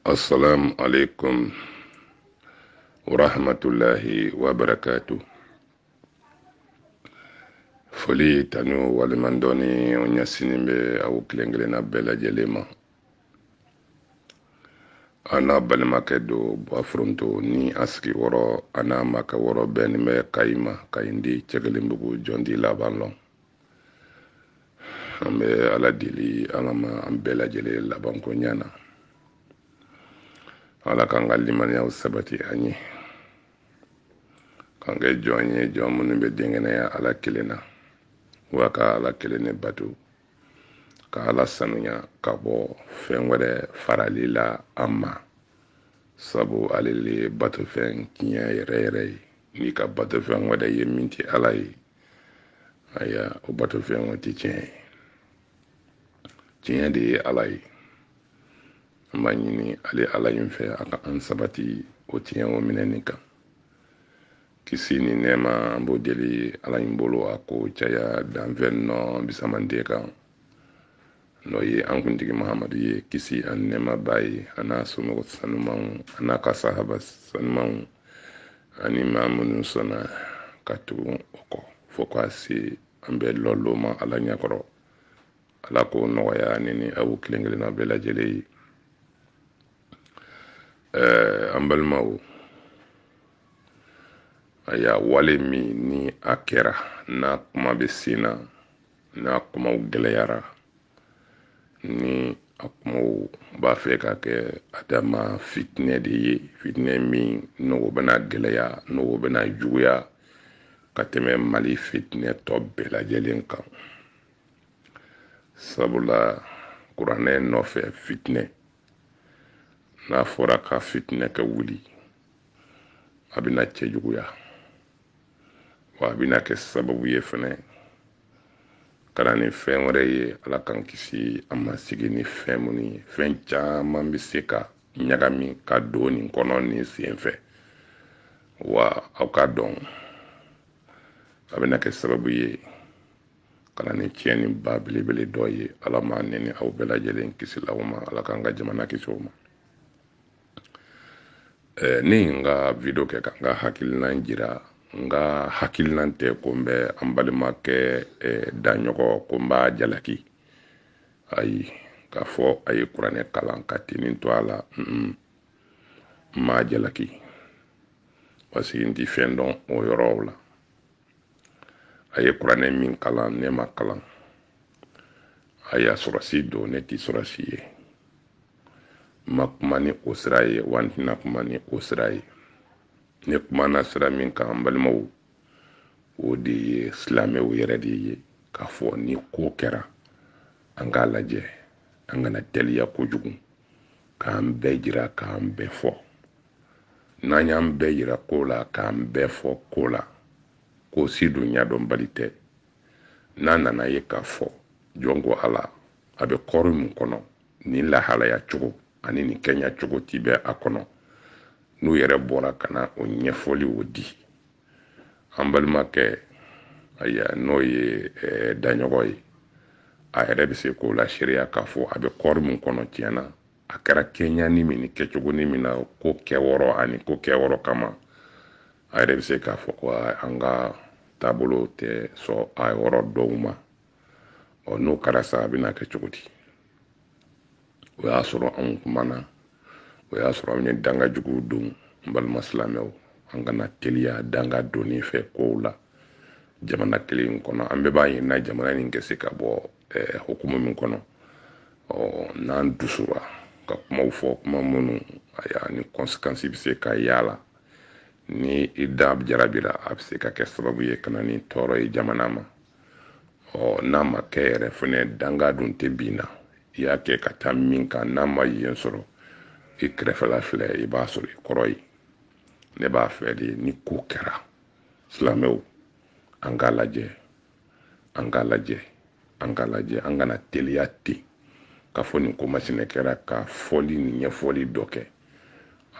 asalaamu aleykum wa rahmatullahi wa barakaatu foli tanu waleɲumandɔnni o ɲɛsinnen bɛ aw kelen-kelenna bɛɛ lajɛlen ma an n'a balimakɛ don baforonto ni a sigi wɔrɔ a n'a makɛ wɔrɔ bɛɛ nin bɛ kayi ma kayi di cɛ kelen bugu jɔn t'i laban lɔn an bɛ ala deli ala ma an bɛɛ lajɛlen labanko ɲɛ na ala k'an ka limaniyaw sabati an ye k'an kɛ jɔn ye jɔn minnu bɛ denkɛnɛya ala kelen na wa ka ala kelen ne bato ka ala sanuya ka bɔ fɛn wɛrɛ farali la a ma sabu ale le ye batofɛn tiɲɛ yɛrɛ yɛrɛ ye n'i ka batofɛn wɛrɛ ye min tɛ ala ye aya o batofɛn o tɛ tiɲɛ ye tiɲɛ de ye ala ye an b'a ɲini ale ala in fɛ a ka an sabati o tiɲɛ o minɛni kan kisi ni nɛɛma an b'o deli ala in bolo a k'o caya danfɛn nɔ fisaman de kan n'o ye an kuntigi mahamadu ye kisi ani nɛɛma b'a ye a n'a somɔgɔ sanumanw a n'a ka sahaba sanumanw ani maa minnu sɔnna ka tugu o kɔ fo ka se an bɛɛ lɔlon ma ala ɲɛkɔrɔ ala k'o nɔgɔya ne ni aw kelen kelenna bɛɛ lajɛlen ye ɛɛ an balimaw aya wale min ni a kɛra n'a kuma bɛ sen na n'a kumaw gɛlɛyara ni a kumaw b'a fɛ ka kɛ a dama fitinɛ de ye fitinɛ min n'o bɛna gɛlɛya n'o bɛna juguya ka tɛmɛ mali fitinɛ tɔ bɛɛ lajɛlen kan sabula kuranɛ nɔfɛ fitinɛ n'a fɔra ka fitinɛ kɛ wuli a bɛna cɛjuguya wa a bɛna kɛ sababu ye fɛnɛ ka na ni fɛn wɛrɛ ye ala k'an kisi an ma sigi ni fɛn minnu ye fɛn caman bɛ se ka ɲagami ka don nin kɔnɔ nin sen fɛ wa aw k'a dɔn a bɛna kɛ sababu ye ka na ni tiɲɛni ba belebele dɔ ye ala ma ne ni aw bɛɛ lajɛlen kisi la o ma ala k'an ka jamana kisi o ma eh, ne ye n ka video kɛ ka n ka hakilinan jira n ka hakilinan tɛ ko n bɛ an balimakɛ eh, daɲɔgɔ ko n b'a jalaki ayi k'a fɔ a ye kuranɛ kalan ka tinin to a la n m'a jalaki parce que n ti fɛn dɔn o yɔrɔw la a ye kuranɛ min kalan ne m'a kalan aya sɔrɔdasi don ne tɛ sɔrɔdasi ye n ma kuma ni o sira ye wa n tɛna kuma ni o sira ye ne kumana sira min kan n balimaw o de ye silamɛw yɛrɛ de ye k'a fɔ ni ko kɛra an k'a lajɛ an kana teliya kojugu k'an bɛɛ jira k'an bɛɛ fɔ n'an y'an bɛɛ yira ko la k'an bɛɛ fɔ ko la ko si dun ɲadɔnbali tɛ n'an nan'a ye k'a fɔ jɔn ko ala a bɛ kɔri min kɔnɔ nin lahalaya cogo ani nin kɛɲa cogo ti bɛ a kɔnɔ n'u yɛrɛ bɔra ka na o ɲɛfɔli o di an balimakɛ aya n'o ye eh, daɲɔgɔn ye a yɛrɛ bɛ se k'o laseereya k'a fɔ a bɛ kɔri min kɔnɔ tiɲɛ na a kɛra kɛɲani min ni kɛcogoni min na ko kɛyɔrɔ ani ko kɛyɔrɔ kama a yɛrɛ bɛ se k'a fɔ ko an ka taabolo tɛ sɔn a yɔrɔ dɔw ma ɔ n'o kɛra sa a bɛna kɛ cogo di o y'a sɔrɔ anw kumana o y'a sɔrɔ anw ye danga juguw don n balima silamɛw an kana teliya danga donni fɛ kow la jamana kelen kɔnɔ an bɛɛ b'a ɲinina jamana nin ka se ka bɔ ɛɛ hukumu min kɔnɔ ɔ n'an dusura ka kumaw fɔ kuma minnu aya ni kɔnsikansi bɛ se ka y'a la ni i da jarabira a bɛ se ka kɛ sababu ye ka na ni tɔɔrɔ ye jamana ma ɔ n'a ma kɛ yɛrɛ fana danga dun tɛ bin na i y'a kɛ ka taa min kan n'a ma yen sɔrɔ i kɛrɛfɛla filɛ i b'a sɔrɔ i kɔrɔ yen ne b'a fɛ de ni ko kɛra silamɛw an k'a lajɛ an k'a lajɛ an k'a lajɛ an kana teliya ten k'a fɔ nin ko masina kɛra ka fɔli ni ɲɛfɔli dɔ kɛ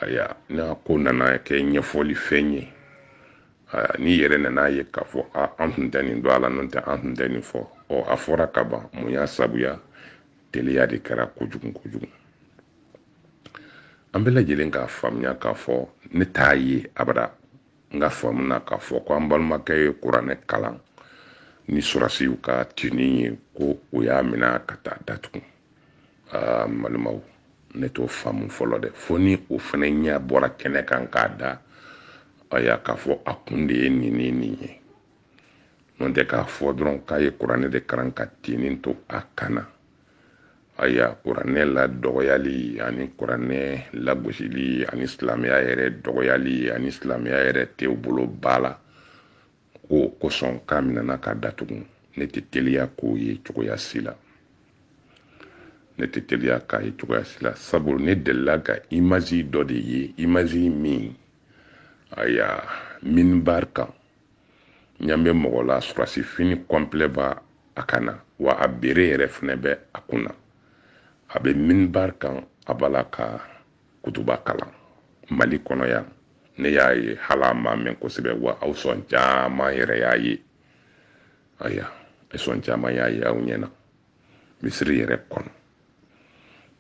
aya n'a ko nana kɛ ɲɛfɔli fɛn ye aya n'i yɛrɛ nan'a ye k'a fɔ a an tun tɛ nin dɔn a la n'o tɛ an tun tɛ nin fɔ ɔ a fɔra ka ban mun y'a sabuya teliya de kɛra kojugu kojugu an bɛɛ lajɛlen k'a faamuya k'a fɔ ne t'a ye abada n ka faamu na k'a fɔ ko an balimakɛ ye kuranɛ kalan ni sɔrɔdasiw ka tini ye ko u y'a mina ka t'a datugu aa n balimaw ne t'o faamu fɔlɔ dɛ fo ni o fana ɲɛ bɔra kɛnɛ kan k'a da aya k'a fɔ a kun de ye nin ni nin ye n'o tɛ k'a fɔ dɔrɔn k'a ye kuranɛ de kalan ka tini to a kan na aya kuranɛ ladɔgɔyali ani kuranɛ lagosili ani silamɛya yɛrɛ dɔgɔyali ani silamɛya yɛrɛ tɛ u bolo ba la k'o kosɔn k'a minɛna k'a datugu ne tɛ teliya k'o ye cogoya si la ne tɛ teliya k'a ye cogoya si la sabu ne delila ka imazi dɔ de ye imazi min aya minbar kan ɲa bɛ mɔgɔ la surasi fini kɔnpilɛ b'a kan na wa a bere yɛrɛ fɛnɛ bɛ a kun na a bɛ minbar kan a b'a la ka kutuba kalan mali kɔnɔ yan ne y'a ye hali a ma mɛn kosɛbɛ wa aw sɔn caman yɛrɛ y'a ye aya e sɔn caman y'a ye aw ɲɛna misiri yɛrɛ kɔnɔ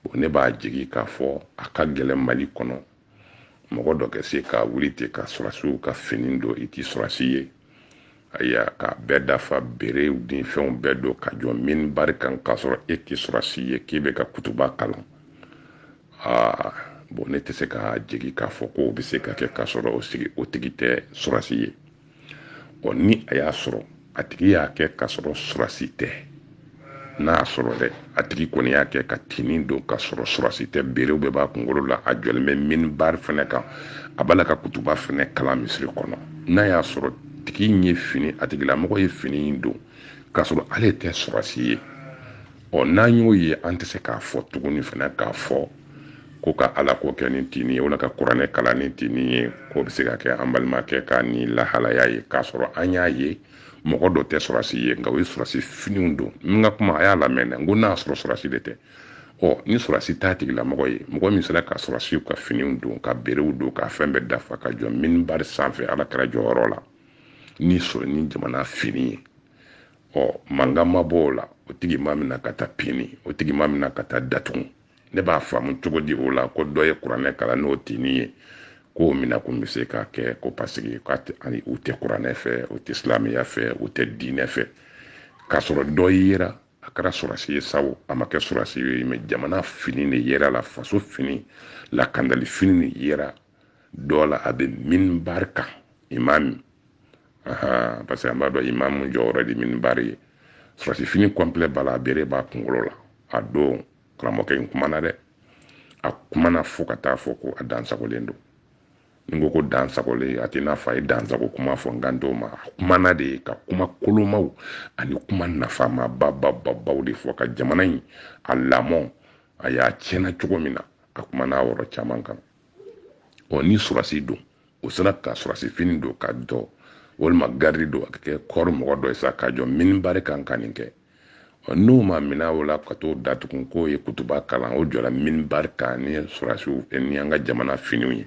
bon ne b'a jigi k'a fɔ a ka gɛlɛn mali kɔnɔ mɔgɔ dɔ kɛ se ka wuli ten ka surasiw ka fini don i ti surasi ye ayiwa k'a bɛɛ dafa berew ni fɛnw bɛɛ don ka jɔ minibari kan k'a sɔrɔ e ti surasi ye k'i bɛ ka kutuba kalan aa bon ne tɛ se k'a jigi k'a fɔ k'o bɛ se ka kɛ k'a sɔrɔ o tigi tɛ surasi ye ɔ ni a y'a sɔrɔ a tigi y'a kɛ k'a sɔrɔ surasi tɛ n'a y'a sɔrɔ dɛ a tigi kɔni y'a kɛ ka tini don k'a sɔrɔ surasi tɛ berew bɛɛ b'a kunkolo la a jɔlen bɛ minibari fɛnɛ kan a b'a la ka kutuba fɛnɛ kalan misiri kɔnɔ n'a y'a sɔrɔ tigi ye fini a tigilamɔgɔ ye fini in don k'a sɔrɔ ale tɛ surasi ye ɔ n'an y'o ye an tɛ se k'a fɔ tuguni fɛnɛ k'a fɔ ko ka ala ko kɛ ni tini ye wala ka kuranɛ kalan ni tini ye k'o bɛ se ka kɛ an balimakɛ ka nin lahalaya ye k'a sɔrɔ an y'a ye mɔgɔ dɔ tɛ surasi ye nka o ye surasi finiw don n ka kuma a y'a lamɛn dɛ n ko n'a y'a sɔrɔ surasi de tɛ ɔ ni surasi t'a tigilamɔgɔ ye mɔgɔ min sera ka surasiw ka finiw don ka berew don ka fɛn bɛɛ dafa ka jɔ minibari sanfɛ ala kira jɔyɔrɔ la ni sɔrɔ ni jamana fini ye ɔ mankan ma bɔ o la o tigi ma mina ka taa pini o tigi ma mina ka taa datugu ne b'a faamu cogo di o la ko dɔ ye kuranɛ kalan n'o tini ye k'o mina kun bɛ se k'a kɛ ko paseke u tɛ kuranɛ fɛ u tɛ silamɛya fɛ u tɛ diinɛ fɛ k'a sɔrɔ dɔ yera a kɛra surasi ye sa wo a ma kɛ surasi ye mɛ jamana fini de yer'a la faso fini lakandali fini de yera dɔ la a bɛ minibari kan imami ahan parce que an b'a dɔn imamu jɔyɔrɔ de minibari ye surasi fini kɔnpilɛ b'a la a bere b'a kunkolo la a don karamɔgɔkɛ in kumana dɛ a kumana fo ka taa fɔ ko a dansagolen don n ko ko dansagolen a tɛ n'a fɔ a ye dansago kuma fɔ n kan t'o ma a kumana dɛ ka kuma kolomaw ani kuma nafama babababaw de fɔ ka jamana in a lamɔ a y'a tiɲɛna cogo min na a kumana a yɔrɔ caman kan ɔ ni surasi don o sera ka surasi fini don ka dɔ walima garidi don a ka kɛ kɔɔri mɔgɔ dɔ ye sa ka jɔ minibari kan ka nin kɛ ɔ n'o ma minɛ o la ka t'o datugu k'o ye kutuba kalan o jɔra minibari kan ni surasiw eh, ni an ka jamana finiw ye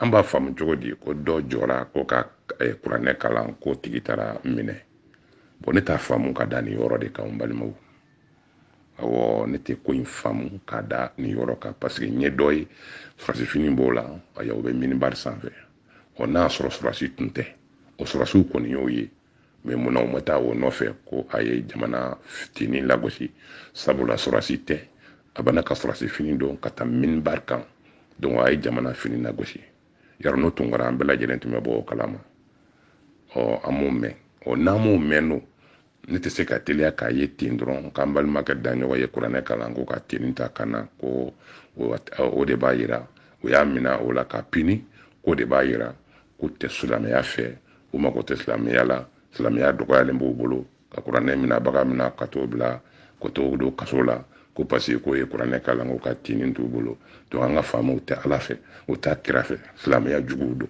an b'a faamu cogo di ko dɔ jɔra ko ka eh, kuranɛ kalan k'o tigi taara minɛ bɔn ne t'a faamu ka da nin yɔrɔ de kan balimaw awɔ ne tɛ ko in faamu k'a da nin yɔrɔ kan paseke n ye dɔ ye sɔrɔsifini b'o la aya o bɛ minibari sanfɛ ɔ n'a y'a sɔrɔ sɔrɔsi tun tɛ o sɔrɔsiw kɔni y'o ye mɛ munna u ma taa o nɔfɛ ko a ye jamana fini lagosi sabula sɔrɔsi tɛ a bɛna ka sɔrɔsi fini don ka taa minibari kan donc a ye jamana fini lagosi yɔrɔ n'o tun kɛra an bɛɛ lajɛlen tun bɛ bɔ o kalama ɔ an m'o mɛn ɔ n'an m'o mɛn don ne tɛ se ka teliya k'a ye ten dɔrɔn k'an balimakɛ daɲɔgɔ ye kuranɛ kalan ko ka tini t'a kan na ko o de b'a yira o y'a mina o la k'a pini k'o de b'a yira k'o tɛ silamɛya fɛ u mago tɛ silamɛya la silamɛya dɔgɔyalen b'u bolo ka kuranɛ minabaga mina ka t'o bila ka t'o don kaso la ko paseke k'o ye kuranɛ kalan ko ka tinin t'u bolo donc an ka faamaw tɛ ala fɛ o t'a kira fɛ silamɛya juguw don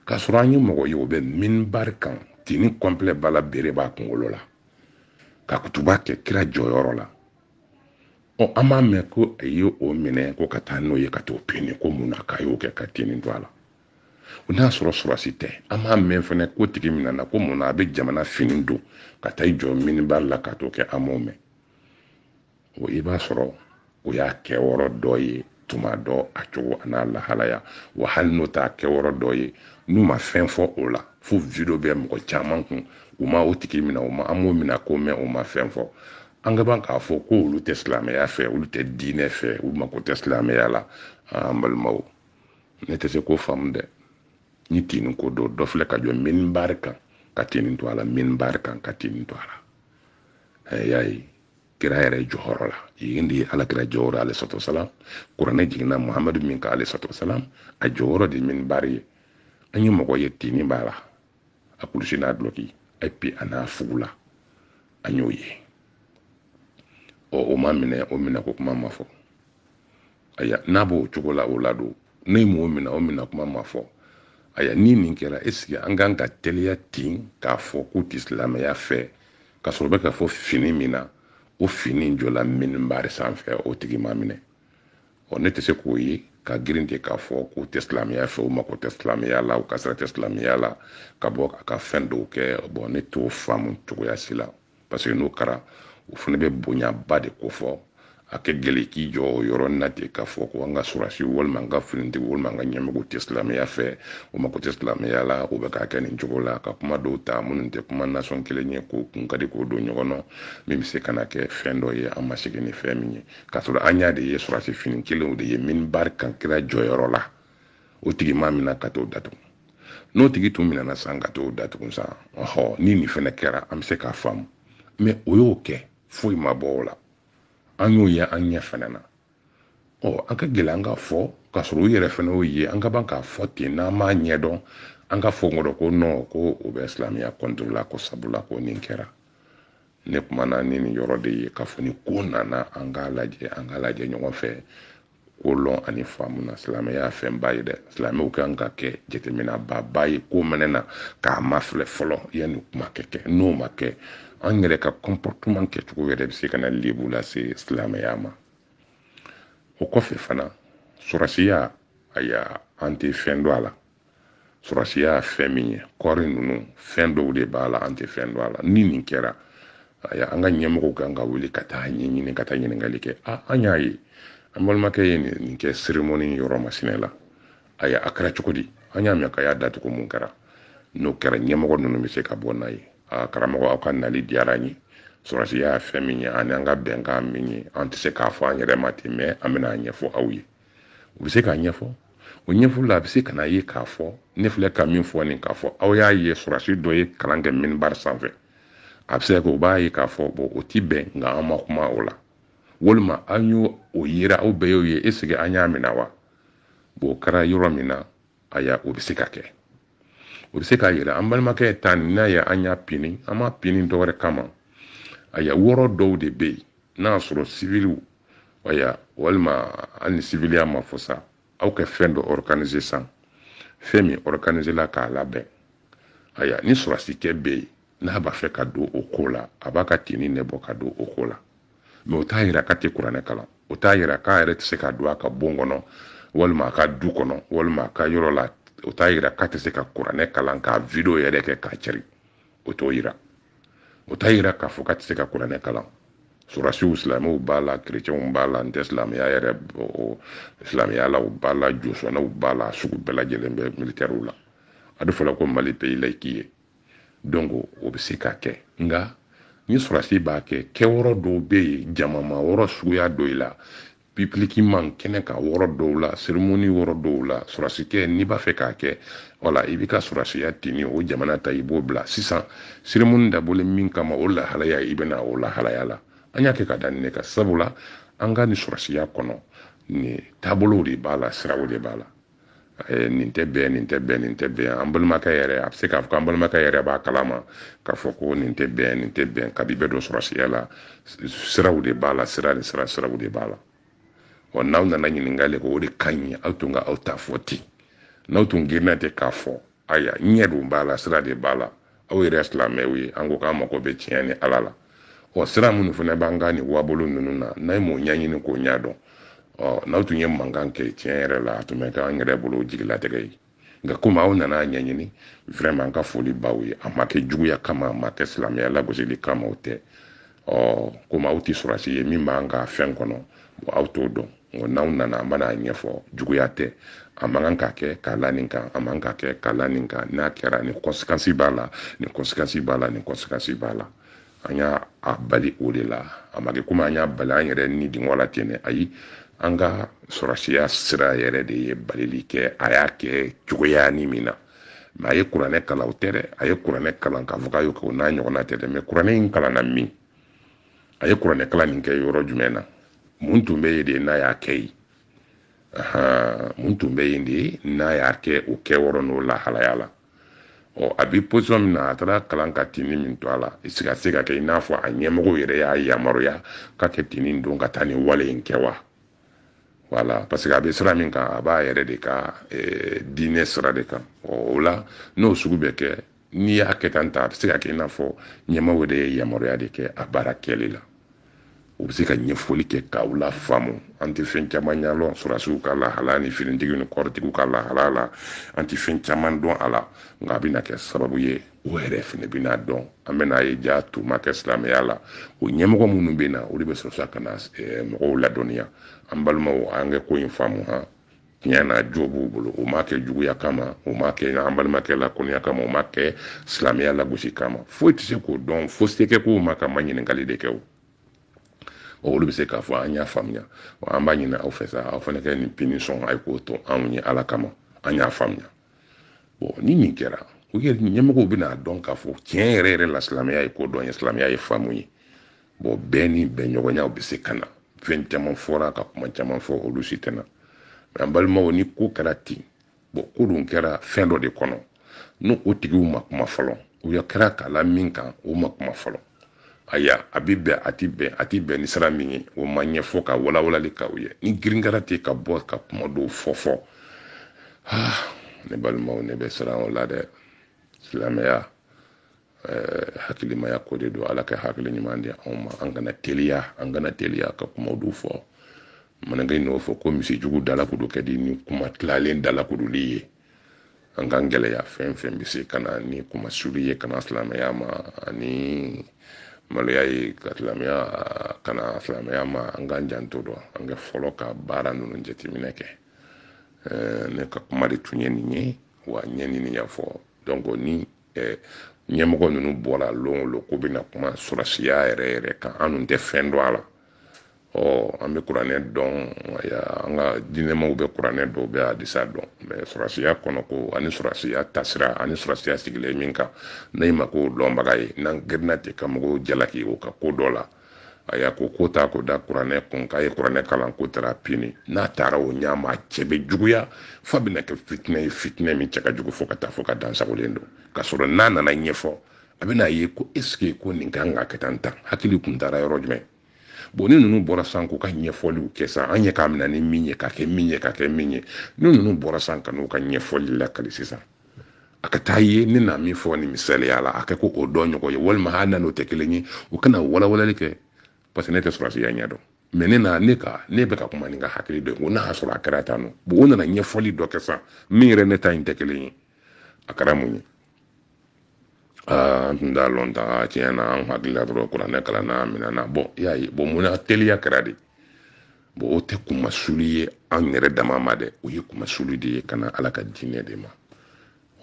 k'a sɔrɔ an ye mɔgɔ ye o bɛ minibari kan tini kɔnpilɛ b'a la bere b'a kungolo la ka kutuba kɛ kira jɔyɔrɔ la ɔ an m'a mɛn ko a ye o minɛ ko ka taa n'o ye ka t'o pini ko mun na k'a y'o kɛ ka tini to a la o n'a sɔrɔ sɔrɔsi tɛ an m'a mɛn fɛnɛ k'o tigi minɛna ko mun na a bɛ jamana fini don ka taa i jɔ minibar la ka t'o kɛ an m'o mɛn o i b'a sɔrɔ o y'a kɛyɔrɔ dɔ ye tuma dɔ a cogo an'a lahalaya wa hali n'o t'a kɛyɔrɔ dɔ ye n'u ma fɛn fɔ o la fo video bɛ mɔgɔ caman kun u ma o tigi minɛ u ma an m'o minɛ ko mɛn u ma fɛn fɔ an ka ban k'a fɔ ko olu tɛ silamɛya fɛ olu tɛ diinɛ fɛ u mako tɛ silamɛya la an balimaw ne tɛ se k'o faamu dɛ ni tinin ko don dɔ filɛ ka jɔ minibari kan ka tinin to a la minibari kan ka tinin to a la y'a ye kira yɛrɛ jɔyɔrɔ la yen de ye ala kira jɔyɔrɔ alayhi salatu wasalam kuranɛ jiginna muhamadu min kan alayhi salatu wasalam a jɔyɔrɔ de minibari ye an ye mɔgɔ ye tini b'a la a kulusi n'a dulɔki et puis a n'a fugula an y'o ye ɔ o ma minɛ o minɛ ko kuma ma fɔ aya n'a b'o cogo la o la don ne m'o mina o mina kuma ma fɔ aya ni nin kɛra est-ce que an kan ka teliya ten k'a fɔ k'u tɛ silamɛya fɛ k'a sɔrɔ o bɛ ka fɔ fini min na o fini in jɔla minibari sanfɛ o tigi ma minɛ ɔ ne tɛ se k'o ye ka girin ten k'a fɔ k'u tɛ silamɛya fɛ u mako tɛ silamɛya la u ka sira tɛ silamɛya la ka bɔ ka fɛn dɔw kɛ bɔn ne t'o faamu cogoya si la parce que n'o kɛra o fana bɛ bonyaba de kofɔ a ka gɛlɛn k'i jɔ o yɔrɔ na ten k'a fɔ ko an ka surasi walima an ka finitigi walima an ka ɲɛmɔgɔ tɛ silamɛya fɛ o mako tɛ silamɛya la o bɛ k'a kɛ nin cogo la ka kuma dɔw ta minnu tɛ kuma nasɔn kelen ye k'o kun ka di k'o don ɲɔgɔn na min bɛ se ka na kɛ fɛn dɔ ye an ma sigi ni fɛn min ye k'a sɔrɔ an y'a de ye surasi fini kelenw de ye minibari kan kira jɔyɔrɔ la o tigi ma mina ka t'o datugu n'o tigi tun minɛna san ka t'o datugu san ɔhɔ ni nin fɛnɛ kɛra an bɛ se k'a faamu mɛ o y'o kɛ foyi ma bɔ o la an y'o ye an ɲɛ fɛnɛ na ɔ an ka gɛlɛ an ka fɔ k'a sɔrɔ u yɛrɛ fɛnɛ y'o ye an ka ban k'a fɔ ten n'an m'a ɲɛdɔn an ka fɔ kɔrɔ ko nɔn ko o bɛ silamɛya kɔntoro la ko sabula ko nin kɛra ne kumana ni nin yɔrɔ de ye k'a fɔ ni ko nana an k'a lajɛ an k'a lajɛ ɲɔgɔn fɛ ko lɔn ani faamu na silamɛya fɛnba ye dɛ silamɛw kan ka kɛ jateminɛbaaba ye ko mɛnɛ na k'a mafilɛ fɔlɔ yanni kuma ka kɛ n'o ma kɛ an yɛrɛ ka kɔnpɔrtman kɛcogo yɛrɛ bɛ se ka na lebu lase silamɛya ma o kɔfɛ fana sɔrɔsiya aya an tɛ fɛn dɔn a la sɔrɔsiya ye fɛn min ye kɔɔri ninnu fɛn dɔw de b'a la an tɛ fɛn dɔn a la ni nin kɛra aya an ka ɲɛmɔgɔw kan ka wuli ka taa ɲɛɲini ka taa ɲininkali kɛ a an y'a ye an balimakɛ ye nin kɛ seremoni yɔrɔ masinɛ la aya a kɛra cogo di an y'a mɛn k'a y'a datugu mun kɛra n'o kɛra ɲɛmɔgɔ ninnu bɛ se ka bɔ n'a ye a karamɔgɔ aw ka nali diyara an ye sɔrɔsiya ye fɛn min ye ani an ka bɛnkan min ye an tɛ se k'a fɔ an yɛrɛ ma ten mɛ an bɛna a ɲɛfɔ aw ye u bɛ se k'a ɲɛfɔ o ɲɛfɔli la a bɛ se ka n'a ye k'a fɔ ne filɛ ka min fɔ nin k'a fɔ aw y'a ye sɔrɔsi dɔ ye kalan kɛ minibari sanfɛ a bɛ se ka kɛ o b'a ye k'a fɔ bɔn o ti bɛn nka an ma kuma o la walima an y'o o yira aw bɛɛ y'o ye eseke an y'a minɛ wa bɔn o kɛra yɔrɔ min na aya o bɛ se ka kɛ o bɛ se k'a yira an balimakɛ ta nin n'a ye an y'a pini an m'a pini dɔ wɛrɛ kama aya wɔrɔ dɔw de bɛ yen n'a y'a sɔrɔ siviliw aya walima hali ni siviliya ma fɔ sa aw kɛ fɛn dɔ ɔrɔkanize san fɛn min ɔrɔkanizela k'a labɛn aya ni sɔrɔsikɛ bɛ yen n'a b'a fɛ ka don o ko la a b'a ka tini ne bɔ ka don o ko la mɛ o t'a yira k'a tɛ kuranɛ kalan o t'a yira k'a yɛrɛ tɛ se ka don a ka bon kɔnɔ walima a ka du kɔnɔ walima a ka yɔrɔ la o t'a yira k'a tɛ se ka kuranɛ kalan k'a video yɛrɛ kɛ k'a cari o t'o yira o t'a yira k'a fɔ k'a tɛ se ka kuranɛ kalan sɔrɔsiw silamɛw b'a la kerecɛnw b'a la n tɛ silamɛya yɛrɛ silamɛya la u b'a la josɔnnaw b'a la sugu bɛɛ lajɛlen bɛ militɛriw la a bɛ fɔla ko mali peyi layiki ye donc o bɛ se ka kɛ nka ni sɔrɔsi b'a kɛ kɛyɔrɔ dɔw bɛ yen jamama yɔrɔ suguya dɔw la pibilikiman kɛnɛ kan yɔrɔ dɔw la seremoni yɔrɔ dɔw la sɔrɔsikɛ n'i b'a fɛ k'a kɛ wala i b'i ka sɔrɔsiya tini o jamana ta i b'o bila sisan seremoni dabɔlen min kama o lahalaya i bɛ na o lahalaya la an y'a kɛ ka da nin ne kan sabula an ka nin sɔrɔsiya kɔnɔ nin taabolow de b'a la siraw de b'a la Eh, nin tɛ bɛn nin tɛ bɛn nin tɛ bɛn an balimakɛ yɛrɛ a bɛ se k'a fɔ an balimakɛ yɛrɛ b'a kalama k'a fɔ ko nin tɛ bɛn nin tɛ bɛn kabi bɛɛ don sɔrɔdasiya la siraw de b'a la sira ni sira siraw de b'a la wa n'aw nana ɲininkali kɛ o de ka ɲi aw tun ka aw ta fɔ ten n'aw tun girinna ten k'a fɔ aya ɲɛ dun b'a la sira de b'a la aw yɛrɛ silamɛw ye an ko k'an mako bɛ tiɲɛ ni ala la ɔ sira minnu fana b'an ka nin wabolo ninnu na n'a ye m'o ɲɛɲini k'o ɲɛdɔn ɔ n'aw tun ye mankan kɛ tiɲɛ yɛrɛ la a tun bɛ k'an yɛrɛ bolo jigilatigɛ ye nka komi aw nana a ɲɛɲini vraiment an ka foli b'aw ye a ma kɛ juguya kama a ma kɛ silamɛya lagosili kama o tɛ ɔ komi aw tɛ sɔrɔdasi ye min b'an ka fɛn kɔnɔ bon aw t'o dɔn nka n'aw nana an bɛna ɲɛfɔ juguya tɛ a man kan ka kɛ k'a la nin kan a man kan ka kɛ k'a la nin kan n'a kɛra nin conséquence b'a la nin conséquence b'a la nin conséquence b'a la an y'a bali o de la a ma kɛ komi an y'a bali an yɛrɛ nidungɔ la ten dɛ ayi an ka sɔrɔdasiya sira yɛrɛ de ye balili kɛ a y'a kɛ cogoya ni min na mɛ a ye kuranɛ kalan o tɛ dɛ a ye kuranɛ kalan k'a fɔ k'a y'o kɛ o n'a ɲɔgɔnna tɛ dɛ mɛ kuranɛ in kalanna min a ye kuranɛ kalan nin kɛ yɔrɔ jumɛn na mun tun bɛ yen de n'a y'a kɛ yen mun tun bɛ yen de n'a y'a kɛ o kɛ yɔrɔ n'o lahalaya la ɔ a bɛ position min na a taara kalan ka tini min to a la i se ka se ka kɛ i n'a fɔ a ɲɛmɔgɔ yɛrɛ y'a yamaruya k'a kɛ tini don ka taa nin wale in kɛ wa voilà parce que a bɛ sira min kan a b'a yɛrɛ de ka eh, diinɛ sira de kan o la n'o sugu bɛ kɛ n'i y'a kɛ tan ta a bɛ se ka kɛ i n'a fɔ ɲɛmaaw de ye yamaruya de kɛ a baara kɛli la u bɛ se ka ɲɛfɔli kɛ k'aw lafaamu an tɛ fɛn caman ɲɛdɔn sɔrɔdasiw ka lahala ni finitigiw ni kɔrɔtigiw ka lahala la an tɛ fɛn caman dɔn a la nka a bɛna kɛ sababu ye o yɛrɛ fɛnɛ bɛna dɔn an bɛna ye jaa tun ma kɛ silamɛya la o ɲɛmɔgɔ minnu bɛ na olu bɛ sɔrɔ sa ka na eh, mɔgɔw ladɔnniya an balimaw an ka ko in faamu han tiɲɛ na jo b'u bolo o ma kɛ juguya kama o ma kɛ an balimakɛ lakɔniya kama o ma kɛ silamɛya lagosi kama foyi tɛ se k'o dɔn fo se ka k'o ma k'a maɲininkali de kɛ o olu bɛ se k'a fɔ an y'a faamuya wa an b'a ɲini aw fɛ sa aw fana ka nin punition a ye k'o to anw ye ala kama an y'a faamuya bon ni nin kɛra u yɛrɛ ɲɛmɔgɔw bɛna dɔn k'a fɔ tiɲɛ yɛrɛ yɛrɛ la silamɛya ye kodɔn ye silamɛya ye faamu ye bon bɛɛ ni bɛnɲɔgɔnyaw bɛ se ka na fɛn caman fɔra ka kuma caman fɔ olu si tɛ na mɛ an balimaw ni ko kɛra ten bon ko dun kɛra fɛn dɔ de kɔnɔ n'o o tigiw ma kuma fɔlɔ u ya kɛra k'a la min kan o ma kuma fɔlɔ aya a bɛ bɛn a tɛ bɛn ni sira min ye o ma ɲɛfɔ ka walawalali k'aw ye ni girin kɛra ten ka bɔ ka kuma dɔw fɔ fɔ ah, ne balimaw ne bɛ siran o la dɛ silamɛya eh, hakilimaya ko de don ala ka hakili ɲuman di anw ma an kana teliya an kana teliya ka kuma dɔw fɔ manakɛ n'o fɔ ko misi jugu dalakuru ka di ni kuma tilalen dalakuruli ye an k'an gɛlɛya fɛn fɛn bɛ se ka na ni kunmasuuli ye ka na silamɛya ma ani maloya ye ka silamɛya ka na silamɛya ma an k'an janto dɔ an ka fɔlɔ ka baara ninnu jateminɛ kɛ ne ka kuma de tun ye nin ye wa n ye nin ɲɛfɔ donc ni ɲɛmɔgɔ ninnu bɔra lon o lon k'u bɛna kuma sɔrɔsiya yɛrɛ yɛrɛ kan an dun tɛ fɛn dɔn a la ɔ an bɛ kuranɛ dɔn an ka diinɛmaw bɛ kuranɛ dɔn u bɛ hadisa dɔn mɛ sɔrɔsiya kɔnɔko ani sɔrɔsiya tasira ani sɔrɔsiya sigilen min kan ne m'a ko dɔnbaga ye n'an girinna ten ka mɔgɔw jalaki u ka ko dɔ la a y'a ko ko ta k'o da kuranɛ kun k'a ye kuranɛ kalan ko taara pini n'a taara o ɲɛ ma a cɛ bɛ juguya f'a bɛna kɛ fitinɛ ye fitinɛ min cɛ ka jugu fo ka taa fo ka dansagolen don k'a sɔrɔ n'a nana ɲɛfɔ a bɛna ye ko esike ko nin kan ka kɛ tan tan hakili kun taara yɔrɔ jumɛn bon ni ninnu bɔra sa k'u ka ɲɛfɔliw kɛ sa an ye k'a minɛ ni min ye ka kɛ min ye ka kɛ min ye ni ninnu bɔra sa ka n'u ka ɲɛfɔli lakali sisan a ka taa ye ne na min fɔ nin misaliya la a kɛ ko o dɔ ɲɔgɔn ye walima hali na n'o tɛ kelen ye u ka na walawalali kɛ parce que ne tɛ sɔrɔsiya ɲɛdɔn mɛ ne na ne ka ne bɛ ka kuma ne ka hakili dɔ ye ko n'a y'a sɔrɔ a kɛra tan nɔ bon o nana ɲɛfɔli dɔ kɛ sa min yɛrɛ ne ta in tɛ kelen ye a kɛra mun ye an tun t'a lɔn ta tiɲɛ na an hakili la dɔrɔn kuranɛ kalanna minɛna bɔn i y'a ye bɔn mun na teliya kɛra de bon o tɛ kunmasuuli ye an yɛrɛ dama ma dɛ o ye kunmasuuli de ye ka na ala ka diinɛ de ma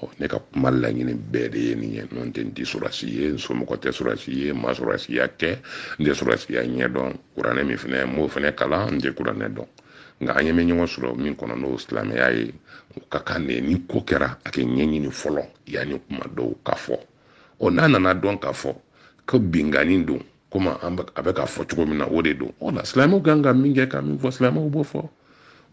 ɔ ne ka kuma laɲini bɛɛ de ye nin ye n'o tɛ n tɛ sɔrɔsi ye n somɔgɔ tɛ sɔrɔsi ye n ma sɔrɔsiya kɛ n tɛ sɔrɔsiya ɲɛdɔn kuranɛ min fana n b'o fana kalan n tɛ kuranɛ dɔn nka an ɲɛ bɛ ɲɔgɔn sɔrɔ min kɔnɔ n'o silamɛya ye o ka kan de ni ko kɛra a ka ɲɛɲini fɔlɔ yanni kuma dɔw ka fɔ ɔ n'a nana dɔn k'a fɔ ko binkanni don komi a bɛ ka fɔ cogo min na o de don o la silamɛw kan ka min kɛ ka min fɔ silamɛw b'o fɔ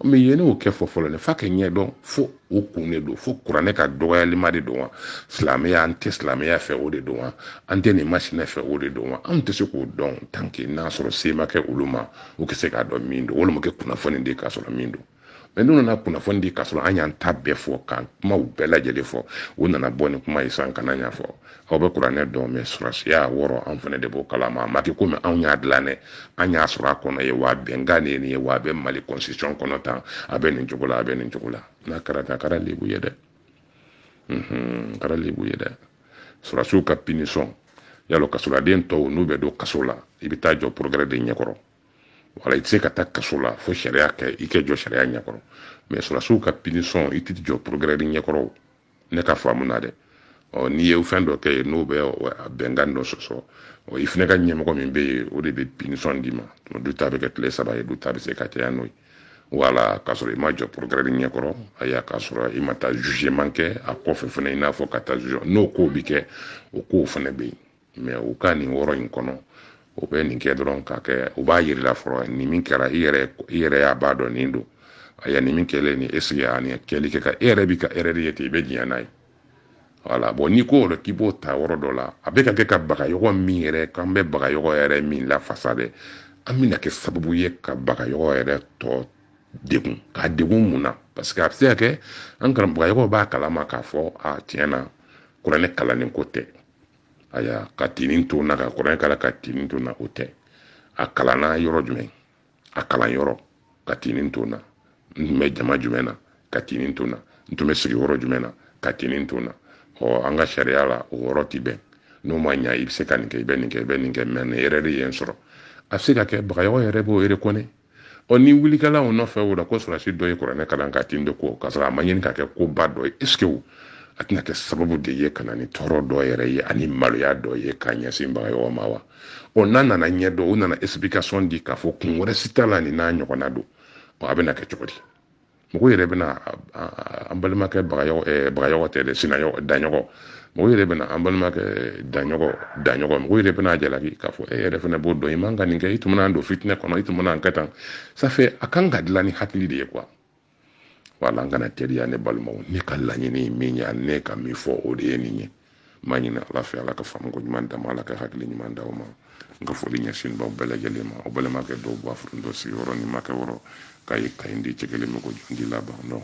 mɛ yanni o ka fɔ fɔlɔ dɛ f'a ka ɲɛdɔn fo o kun de don fo kuranɛ ka dɔgɔyalima de don wa silamɛya an tɛ silamɛya fɛ o de don wa an tɛ nin masinɛ fɛ o de don wa anw tɛ se k'o dɔn tanke n'a sɔrɔ se ma kɛ olu ma u tɛ se k'a dɔn min don walima ka kunnafoni de k'a sɔrɔ min don mɛ n'u nana kunnafoni di k'a sɔrɔ an y'an ta bɛɛ fɔ ka kumaw bɛɛ lajɛlen fɔ u nana bɔ ni kuma ye san kana ɲɛfɔ aw bɛ kuranɛ dɔn mɛ sɔrɔsiya wɔrɔ anw fana de b'o kalama a ma kɛ komi anw y'a dilan dɛ an y'a sɔrɔ a kɔnɔ ye wa bɛnkan de ye nin ye wa a bɛ mali constitution kɔnɔ tan a bɛ nin cogo la a bɛ nin cogo la n'a kɛra tan a kɛra lebu ye dɛ a kɛra lebu ye dɛ sɔrɔsiw ka pinisɔn yala kasoladen tɔw n'u bɛ don kaso la i bɛ taa jɔ procureur de ɲɛkɔrɔ wala i tɛ se ka taa kaso la fo sariya kɛ i kɛ jɔ sariya ɲɛkɔrɔ mɛ sɔrɔsiw ka pinisɔn i tɛ jɔ procureur ɲɛkɔrɔ ne ka faamu na dɛ ɔ n'i ye fɛn dɔ kɛ yen n'o bɛ bɛnkan dɔ sɔsɔ ɔ i fana ka ɲɛmɔgɔ min bɛ yen o de bɛ pinisɔn d'i ma dɔw ta bɛ kɛ tile saba ye dɔw ta bɛ se ka caya n'o ye wala k'a sɔrɔ i ma jɔ procureur ɲɛkɔrɔ ayiwa k'a sɔrɔ i ma taa zuzeman kɛ a kɔfɛ fana i n'a fɔ ka taa zuze n'o kow bɛ kɛ o kow fana bɛ yen mɛ u ka nin yɔrɔ in kɔnɔ u bɛ nin kɛ dɔrɔn ka kɛ u b'a jir'i la fɔlɔ nin min kɛra i yɛrɛ i yɛrɛ y'a b'a dɔn nin don a ya nin min kɛlen nin est-ce que a nin kɛli kɛ ka e yɛrɛ bi ka erreur de ye ten i bɛ diɲɛ n'a ye voilà bon n'i ko yɛrɛ k'i b'o ta yɔrɔ dɔ la a bɛ ka kɛ ka bagayɔgɔ min yɛrɛ k'an bɛ bagayɔgɔ yɛrɛ min lafasa dɛ an bɛna kɛ sababu ye ka bagayɔgɔ yɛrɛ tɔ degun k'a degun mun na parce que a bɛ se ka kɛ an ka bagayɔgɔ b'a kalama k'a fɔ a tiɲɛ na kuranɛ kalannen ko tɛ aya ka tenue to n na ka kuranɛ kalan ka tenue to n na o tɛ a kalanna yɔrɔ jumɛn a kalan yɔrɔ ka tenue to n na n tun bɛ jama jumɛn na ka tenue to n na n tun bɛ sigi yɔrɔ jumɛn na ka tenue to n na ɔ an ka sariya la o yɔrɔ ti bɛn n'o ma ɲa i bɛ se ka nin kɛ i bɛ nin kɛ i bɛ nin kɛ mɛ nin erreur de ye n sɔrɔ a bɛ se ka kɛ bagayɔgɔ yɛrɛ b'o reconnaître ɔ ni wuli kɛla o nɔfɛ o la ko sɔrɔsi dɔ ye kuranɛ kalan ka tenue don ko k'a sɔrɔ a ma ɲini ka kɛ koba dɔ ye est-ce que a tɛna kɛ sababu de ye ka na ni tɔɔrɔ dɔ yɛrɛ ye ani maloya dɔ ye k'a ɲɛsin bagayɔgɔ ma wa ɔ n'a nana ɲɛ dɔn u nana explication di k'a fɔ kun wɛrɛ si t'a la nin n'a ɲɔgɔnna don ɔ a bɛna kɛ cogo di mɔgɔ yɛrɛ bɛna an balimakɛ bagayɔgɔ tɛ dɛ sina daɲɔgɔ mɔgɔ yɛrɛ bɛna an balimakɛ daɲɔgɔ daɲɔgɔ mɔgɔ yɛrɛ bɛna jalaki k'a fɔ e yɛrɛ fana b'o dɔn i man ka nin kɛ i tun bɛna don fitinɛ kɔnɔ i tun bɛna kɛ tan ça fait a kan ka dilan ni hakili de ye quoi wala an kana teriya ne balimaw ne ka laɲini ye min ye ne ka min fɔ o de ye nin ye n b'a ɲini ala fɛ ala ka faamuko ɲuman d'an ma ala ka hakili ɲuman d'aw ma n ka foli ɲɛsin b'aw bɛɛ lajɛlen ma o balimakɛ dɔw b'a furu dɔ sigiyɔrɔ ni makɛ wɔrɔ k'a ye kayi di cɛ kelen bɛ ko jundi laban dɔn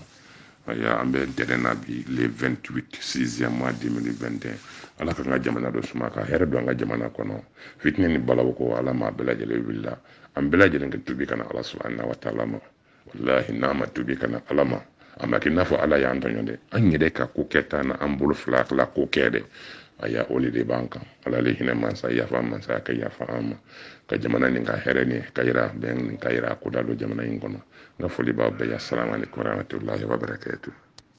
aya an bɛ ntɛnɛn na bi le 28 sixième mois 2021 ala k'an ka jamana dɔ suma ka hɛrɛ don an ka jamana kɔnɔ fitinɛ ni balawu ko ala m'a bɛɛ lajɛlen wulila an bɛɛ lajɛlen ka tubi ka na ala subahana wa taala ma walahi n'an ma tuubi ka na ala ma a ma kɛ i n'a fɔ ala y'an tɔɲɔ dɛ an yɛrɛ ka ko kɛta na an bolo fila tila ko kɛ dɛ a y'a o de b'an kan ala le hinɛ mansa yafa mansa ka yafa an ma ka jamana nin ka hɛrɛ ni kayira bɛn ni kayira ko da don jamana in kɔnɔ n ka foli b'aw bɛɛ ye salamu aleykum warahmatullahi wabarakatuh